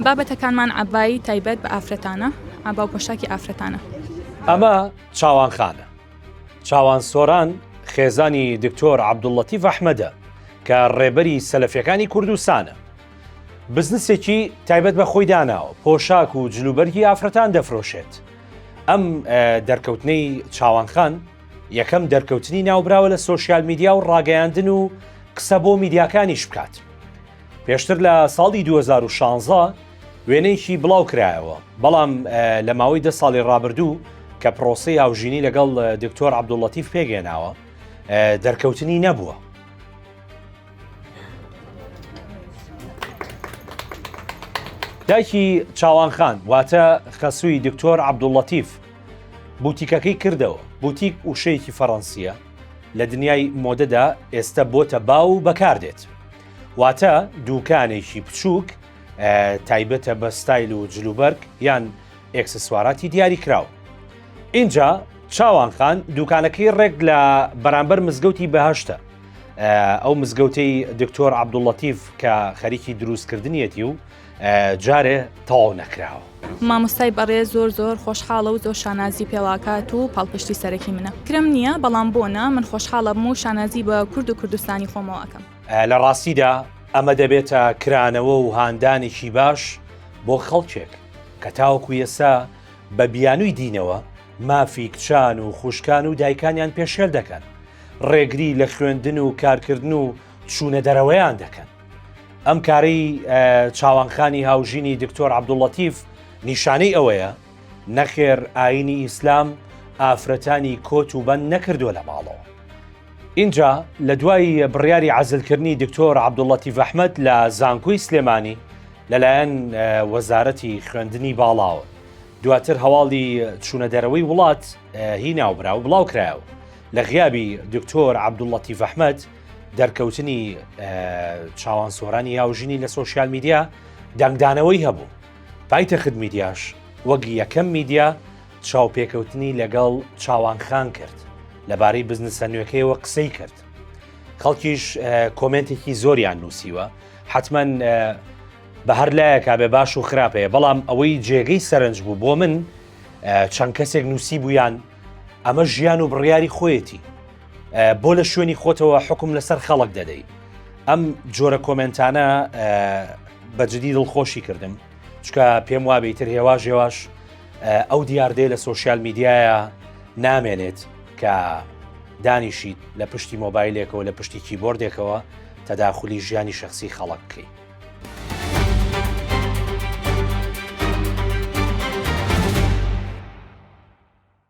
بابەتەکانمان عەبای تایبەت بە ئافرەتانە، عەبا و پۆشاکی ئافرەتانە. ئەمە چاوانخانە. چاوان سۆران خێزانی دکتۆر عەبدوللەتیف ئەحمەدە کە ڕێبەری سەلەفیەکانی کوردستانە. بزنسێکی تایبەت بە خۆی داناوە، پۆشاک و جلوبەرگی ئافرەتان دەفرۆشێت. ئەم دەرکەوتنەی چاوانخان یەکەم دەرکەوتنی ناوبراوە لە سۆشیال میدیا و ڕاگەیاندن و قسە بۆ میدیاکانیش بکات. پێشتر لە ساڵی 2016 وێنەیەکی بڵاو کرایەوە بەڵام لە ماوەی دە ساڵی ڕابردوو کە پرۆسی هاوژینی لەگەڵ دکتۆر عبدوڵەتیف پێگەێناوە دەرکەوتنی نەبووە دایکی چاوانخان واتە خەسووی دکتۆر عبدوڵەتیف بوتیکەکەی کردەوە بوتیک وشەیەکی فەڕەنسیە لە دنیای مۆدەدا ئێستا بۆتە باو و بەکاردێت واتە دووکانێکی بچووک تایبەتە بە ستایل و جلوبەرگ یان ئێکسسواراتی دیاری کراو. اینجا چاوانخان دوکانەکەی ڕێک لە بەرامبەر مزگەوتی بەهشتە ئەو مزگەوتەی دکتۆر عبدوڵەتیف کە خەریکی دروستکردنیەتی و جارێ تەواو نەکراوە مامۆستای بەڕێ زۆر زۆر خۆشحاڵە و زۆر شانازی پێڵاکات و پاڵپشتی سەرەکی منە کرم نییە بەڵام بۆنا من خۆشحاڵە بم و شانازی بە کورد و کوردستانی خۆمەوەکەم لە ڕاستیدا ئەمە دەبێتە کرانەوە و هاندانێکی باش بۆ خەڵکێک کە تاوەکو ئێستا بە بیانووی دینەوە مافی کچان و خوشکان و دایکانیان پێشێل دەکەن ڕێگری لە خوێندن و کارکردن و چوونە دەرەوەیان دەکەن ئەم کاری چاوانخانی هاوژینی دکتۆر عبدوڵەتیف نیشانەی ئەوەیە نەخێر ئاینی ئیسلام ئافرەتانی کۆت و بەند نەکردووە لە ماڵەوە ئینجا لە دوای بڕیاری عەزلکردنی دکتۆر عەبدوڵەتیف ئەحمەد لە زانکۆی سلێمانی لەلایەن وەزارەتی خوێندنی باڵاوە دواتر هەواڵی چوونە دەرەوەی وڵات هی ناوبراو بڵاو کرایەوە لە غیابی دکتۆر عەبدوڵەتیف ئەحمەد دەرکەوتنی چاوان سۆرانی یاوژینی لە سۆسیال میدیا دەنگدانەوەی هەبوو پایتەخت میدیاش وەک یەکەم میدیا چاوپێکەوتنی لەگەڵ چاوان خان کرد لەبارەی بزنسە نوێکەیەوە قسەی کرد خەڵکیش کۆمنتێکی زۆریان نووسیوە حتمما بە هەر لایەکا بێ باش و خراپەیە بەڵام ئەوەی جێگەی سەرنج بوو بۆ من چەند کەسێک نووسی بوویان ئەمە ژیان و بڕیاری خۆیەتی بۆ لە شوێنی خۆتەوە حکم لەسەر خەڵک دەدەیت ئەم جۆرە کۆمنتانە بەجددی دڵخۆشی کردم چکە پێم وابێ ئیتر هێواش هێواش ئەو دیاردەیە لە سوۆسیال میدیایە نامێنێت کە دانیشیت لە پشتی مۆبایلێکەوە لە پشتی کیبۆردێکەوە تەداخلی ژیانی شخصی خەڵک بکەیت.